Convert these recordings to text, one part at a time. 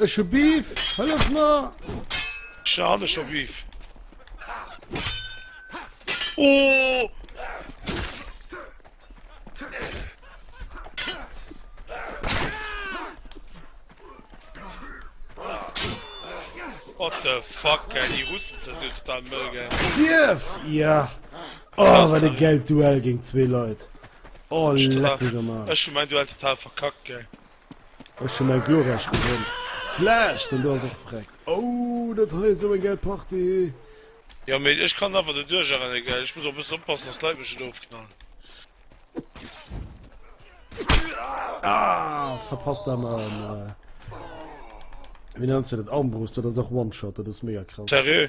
Ech hu Beef, hëllef mer! Scha han ech scho Beef. Oh! What the fuck, ey, déi Russen ze si total mëll, gell? Kierf! Ja! Oh, wat e gäilt Duell géint zwee Leit! Oh, leck mich am Arsch. Ech hun mein Duell total verkackt, gell. Ech hun mein Glorreich gewonn. Slash, den do ass och vreckt. Oh, dat hei ass jo eng gäil Partie. Jo, mee ech kann awer do duercher rennen, gell. Ech muss och bëssen oppassen, dass d'Leit mech net ofknallen. Ah, verpasst awer en, wéi nennt se dat, Armbrust. Dat ass och One-Shot, dat ass mega krass. Seriö?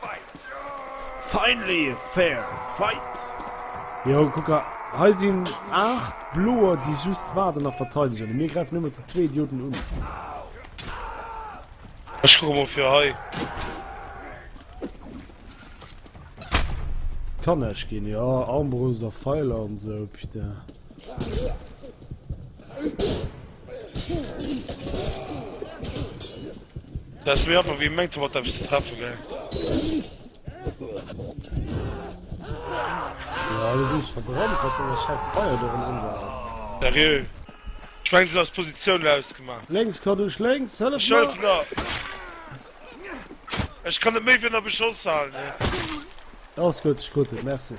Fight! Finally a fair fight! Jo, kuck a, hei sinn 8 Bloer, déi just waarden a verteidegen, a mir gräifen ëmmer zu zwee Idioten un. Ech kucke mol fir hei. Kann näischt ginn, jo, Armbrust a Feiler an esou, putain. Das wär einfach wie mengt wat ze treffe ge. Seriö Schweng ass Positioun ausgemacht. Lenks kann duch lenks Ech kann méi win der beschoss halen. Ass gëtt Schrott Merc.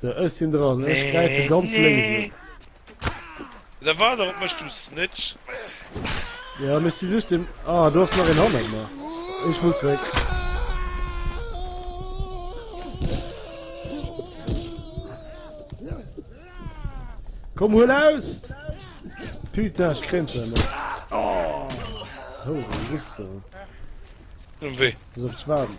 So, ech sinn dran, ech gräife ganz lénks un. Da war der op mech, du Snitch! Ja, mech si just dem. Ah, do ass nach een hannert mer. Ech muss wéi. Komm huel aus! Putain, ech kréint se net. Oh, Rüstung. Wéi? Soll ich warten?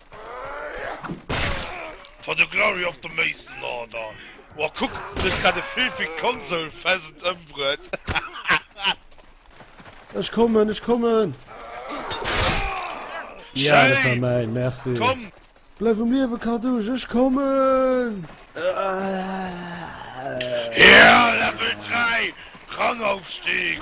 For the glory of the Mason Order. Wow, guck, du hast grad e filthy console pheasant ëmbruet. Ech kommen, ech kommen! Ja, dat war mein, merci. Komm! Bleif um Liewe, Cartouche, ech kommen! Ja, Level 3! Rangaufstieg!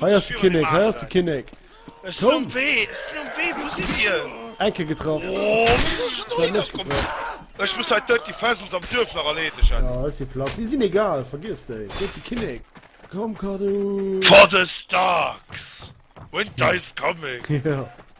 Hei ass de Kinnek, hei ass de Kinnek! Komm! Eng Kéier getraff. Säit net getraff. Jo, hei si platt. Déi sinn egal, vergiess déi. Hei ass de Kinnek. Komm, Kadu! Jo.